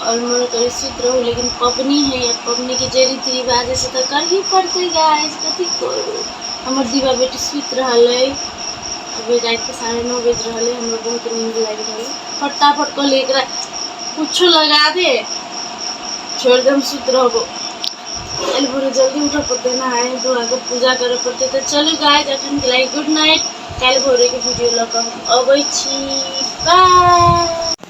आओर मोन करै सुति रहू लेकिन पबनी होइए पबनीके जे रीति रिवाज अइ से तऽ करही पड़तै गाइस कथी करू हमर दीवा बेटी सुति रहल अइ अभी रातिके साढ़े नओ बाजि रहल अइ हमरा बहुत नींद लागि रहल अइ फटाफट कहलियै एकरा कुछो लगा दे छोड़ि दे हम सुति रहबो काल्हि भोरे जल्दी उठऽ पड़तै नहाय धोआके पूजा करऽ पड़तै तऽ चलू गाइस एखनके लागि गुड नाइट काल्हि भोरेके वीडियो लऽ कऽ हम अबै छी बाय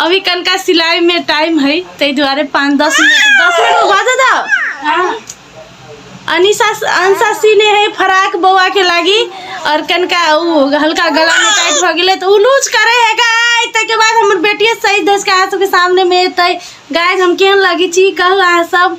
अभी कनका सिलाई में टाइम है ताहि दुआरे पाँच दस मिनट दस मिनट में बाजऽ दऽ अनिशा अंशा सीने है फराक बौआ के लागी और कनका उ हल्का गला में टाइट भ गेले तो उ लूज करे है गाय ताहि के बाद हमर बेटिए सही दस के अहाँ सबके सामने में एतै गाय हम केहन लागी छी कहू अहाँ सब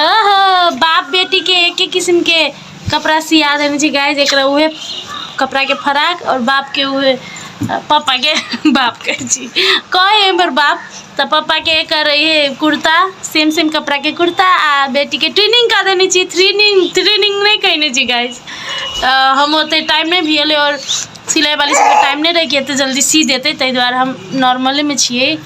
ओहो बाप बेटी के एक ही किस्म के कपड़ा सिया देने छी गाय जेकरा उहे कपड़ा के फराक और बाप के उहे पापा के बाप के छी कहे हमर बाप त पापा के एकर ये कुर्ता सेम सेम कपड़ा के कुर्ता आ बेटी के ट्रेनिंग कर देने छी ट्रेनिंग ट्रेनिंग नहीं कहने छी गाइस हम ओते टाइम नहीं भी और सिलाई वाली सबके टाइम नहीं रह गया तो जल्दी सी देते ताहि दुआरे हम नॉर्मले में छिए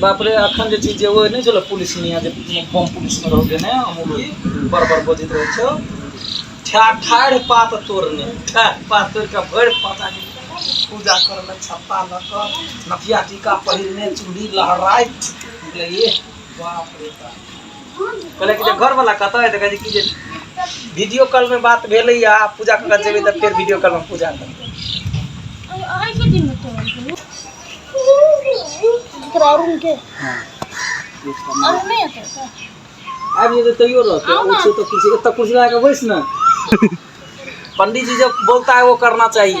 बाप रे अखन जे चीज जे ओ नहि छलो पुलिस मिया जे बम पुलिस में रहो देने अमूली बड़ बड़ बजैत रहे छो ठा ठाढ़ पात तोड़ने ठाढ़ पात तोड़ के भर पाता पूजा कर ले छप्पा ल के नथिया टीका पहिरने चूड़ी लहराइत ये बाप रे बाप कहले कि जे घर वाला कतऽ है तऽ कहै छै कि जे वीडियो कॉल में बात भेलै या आ पूजा करऽ जेबै तऽ फेर वीडियो कॉल में पूजा करबै आबि जेतै तैयो रहतै ओ छै तऽ कुर्सी एतऽ कुर्सी लगा कऽ बैस ने पंडित जी जब बोलता है वो करना चाहिए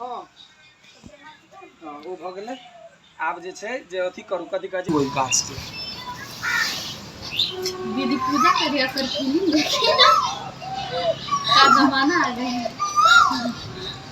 ओ भऽ गेलै आब जे छै जे अथी करू कथी कहै छै ओहि गाछके दीदी पूजा करिया कर फिल्म देखिए ना का जमाना आ गया है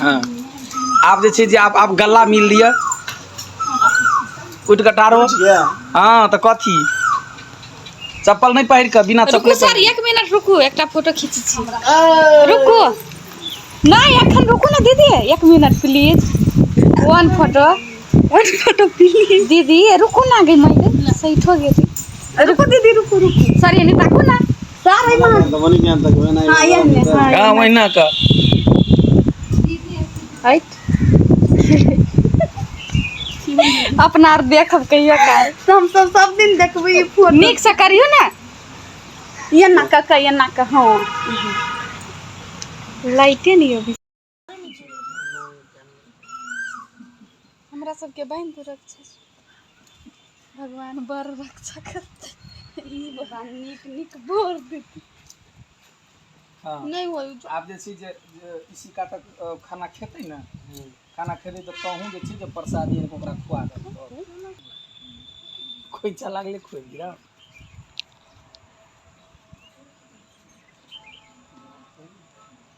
हँ आब जे छै जे आब आब गला मिल लिअ उठि कऽ टारो हँ तऽ कथी चप्पल नहि पहिर कऽ बिना रुकू चप्पल सर एक मिनट रुकू एकटा फोटो खींची छी रुकू नहि एखन रुकू ने दीदी एक minute please one photo one photo please दीदी रुकू ना गई माई सही ठो गेली रुकू दीदी रुकू रुकू सर एने ताकू ना अपना आर देखब कहियो काल हम सब सब दिन देखबै ई फोटो नीक से करियो ने एना कऽ कऽ एना कऽ हँ लाइटे नहीं होगी हमरा सबके बहन तू रक्षस भगवान बड़ रक्षा करते ई भगवान नीक नीक बोर देते हाँ नहीं हो आप जे छी जे जे इसी का तक अ, खाना खेतै ने खाना खेतै तऽ कहूँ जे छी जे प्रसादी आनिकऽ ओकरा खुआ देबै खोइचा लागले खोइ गिरा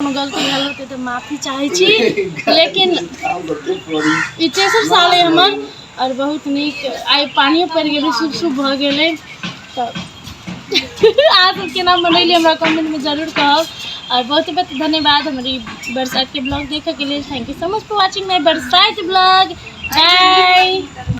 कोनो गलती भेल होतै तऽ माफी चाहै छी लेकिन ई तेसर साल अइ हमर आओर बहुत नीक आइ पानियो पड़ि गेलै शुभ शुभ भऽ गेलै तऽ अहाँ सब केना मनैली हमरा कमेंटमे जरूर कहब आओर बहुत बहुत धन्यवाद हमर ई बरसातके ब्लॉग देखैके लेल thank you so much for watching my बरसात ब्लॉग बाय